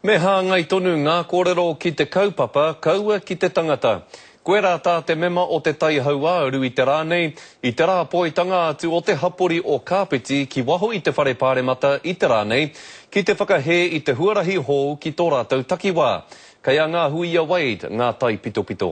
Me hāngai tonu ngā kōrero ki te kaupapa, kaua ki te tangata. Koirā tā te mema o te tai hauāuru i te rā nei, i te rā poitanga atu o te hapori o Kāpiti ki waho i te Whare Pāremata i te rā nei, ki te whakahē i te huarahi hou ki tō rātou takiwā. Kei a Ngā Huia Wade ngā taipitopito.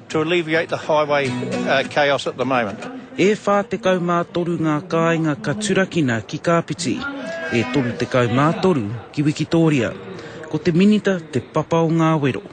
To alleviate the highway chaos at the moment. E 43 ngā kāinga ka turakina ki Kāpiti, e 33 ki Wikitōria. Ko te Minita te papa o ngā wero.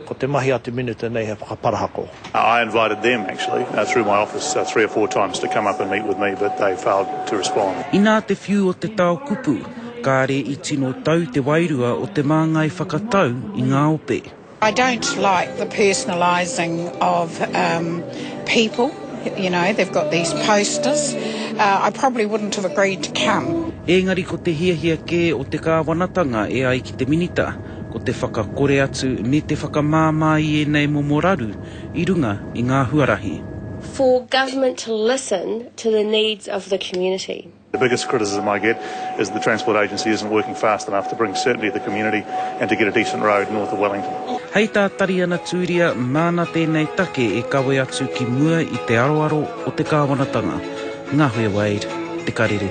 Ko te mahi a te Minita nei he whakaparahako. I invited them actually through my office three or four times to come up and meet with me but they failed to respond. Inā te whiu o te tao kupu, kāre i tino tau te wairua o te māngai whakatau i ngā ope. I don't like the personalising of um people, you know, they've got these posters. Uh, I probably wouldn't have agreed to come. Ēngari ko te hiahia kē o te kāwanatanga e ai ki te Minita, ko te whakakore atu me te whakamāmā i ēnei momo raru i runga i ngā huarahi. for government to listen to the needs of the community. The biggest criticism I get is the Transport Agency isn't working fast enough to bring certainty to the community and to get a decent road north of Wellington. Hei tā Tariana Tūria, nāna tēnei take e kawe atu ki mua i te aroaro o te kāwanatanga. Ngahuia Wade, Te Karere.